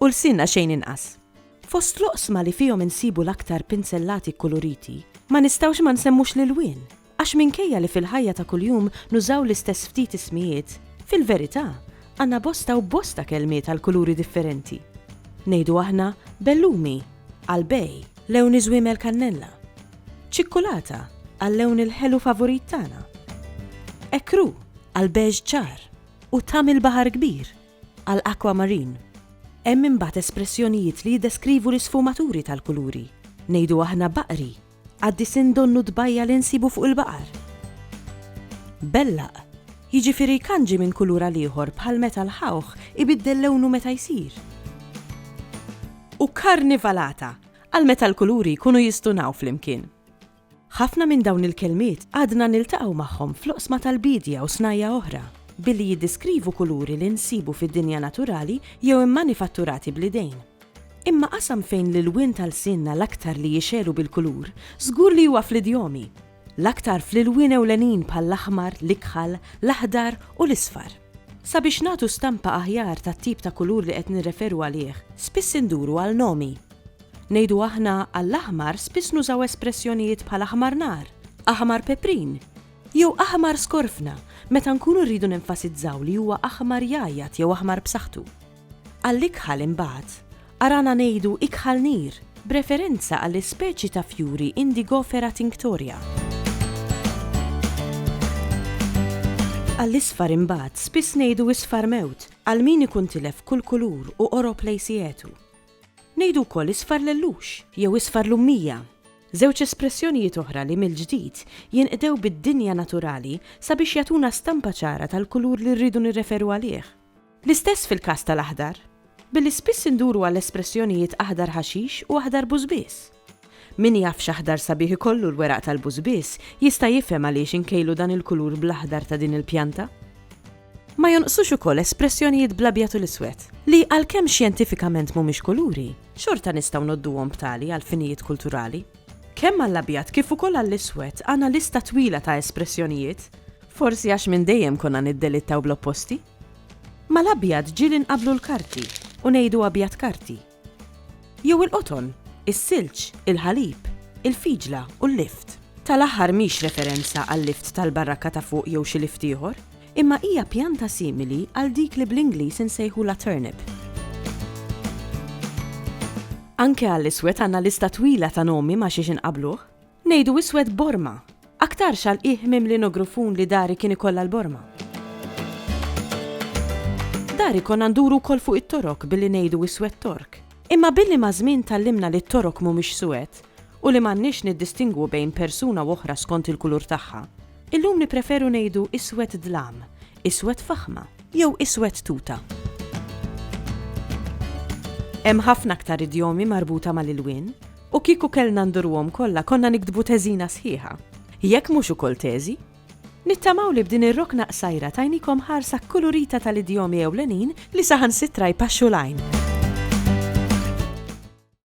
u lsienna xejn inqas. Fost l-oqsma li fihom insibu l-aktar pinzellati kkuluriti, ma nistgħux ma nsemmux l-ilwien, għax minkejja li fil-ħajja ta' kuljum nużaw l-istess ftit ismijiet, fil-verità, għandna bosta u bosta kelmiet għall-kuluri differenti. Ngħidu aħna bellumi għall-bej, lewn iżwiemel kannella, ċikkulata għal-lewn il-ħelu favurit tagħna, ekru għall-beige ċar u tgħam il-baħar kbir. għal aquamarine. Hemm imbagħad espressjonijiet li jiddeskrivu l-isfumaturi tal-kuluri. Ngħidu aħna baqri, qaddisin donnu tbajja' li nsibu fuq il-baqar. Bellaq, jiġifieri jkanġi minn kulur għal ieħor bħal meta l-ħawħ ibiddel lewnu meta jsir. U karnivalata, għal meta l-kuluri jkunu jistunaw flimkien. Ħafna minn dawn il-kelmiet għadna niltaqgħu magħhom fl-oqsma tal-biedja u snajja' oħra, billi jiddeskrivu kuluri li nsibu fid-dinja naturali jew immanifatturati bl-idejn. Imma qasam fejn l-ilwien ta' lsienna l-aktar li jixegħlu bil-kulur, żgur li huwa fl-idjomi. L-aktar fl-ilwien ewlenin bħall-aħmar, l-ikħal, l-aħdar u l-isfar. Sabiex nagħtu stampa aħjar tat-tip ta' kulur li qed nirreferu għalih, spiss induru għal nomi. Ngħidu aħna għall-aħmar spiss nużaw espressjonijiet bħal aħmar nar, aħmar peprin, jew aħmar skorfna meta nkunu rridu nenfasizzaw li huwa aħmar jgħajjat jew aħmar b'saħħtu. Għall-ikħal imbagħad, arana ngħidu ikħal nir, b'referenza għall-ispeċi ta' fjuri Indigofera tinctoria. Għall-isfar imbagħad spiss ngħidu isfar mewt għal min ikun tilef kull kulur u qorob lejn sietu. Ngħidu wkoll isfar l-ellux jew isfar l-ummija, żewġ espressjonijiet oħra li mill-ġdid jinqdew bid-dinja naturali sabiex jagħtuna stampa ċara tal-kulur li rridu nirreferu għalih. L-istess fil-każ tal-aħdar, billi spiss induru għal espressjonijiet aħdar ħaxix u aħdar bużbież. Min jaf x'aħdar sabiħ ikollu l-weraq tal-bużbież jista' jifhem għaliex inkejlu dan il-kulur bl-aħdar ta' din il-pjanta. Ma jonqsux ukoll espressjonijiet bl-abjad u l-iswed, li għalkemm xjentifikament mhumiex kuluri, xorta nistgħu ngħodduhom b'tali għal finijiet kulturali. Kemm għall-abjad kif ukoll għall-iswed għandna lista twila ta' espressjonijiet, forsi għax minn dejjem konna niddelittaw bl-opposti. Mal-abjad ġieli nqabblu l-karti u ngħidu abjad karti. Jew il-qoton, is-silġ, il-ħalib, il-fiġla u l-lift. Tal-aħħar mhix referenza għal-lift tal-barrakka ta' fuq jew xi lift ieħor, imma hija pjanta simili għal dik li bl-Ingliż insejħulha turnip. Anke għall-iswed għandna lista twila ta' nomi ma' xiex inqabbluh. Ngħidu iswed borma. Aktarx għal qiegħ mimli nogrufun li dari kien ikollha l-borma. Dari konna nduru wkoll fuq it-torok billi ngħidu iswed tork. Imma billi maż-żmien tgħallimna li t-torok mhumiex suwed u li m'għandniex niddistingwu bejn persuna u oħra skont il-kulur tagħha, illum nippreferu ngħidu iswed dlam, iswed faħma jew iswed tuta. Hemm ħafna aktar idjomi marbuta mal-ilwien. U kieku kellna ndurruhom kollha konna niktbu teżina sħiħa. Jekk mhux ukoll teżi. Nittamaw li b'din ir-rokna qsajra tajnikom ħarsa kkulurita tal-idjomi ewlenin li saħansitra jpaxxu l-għajn.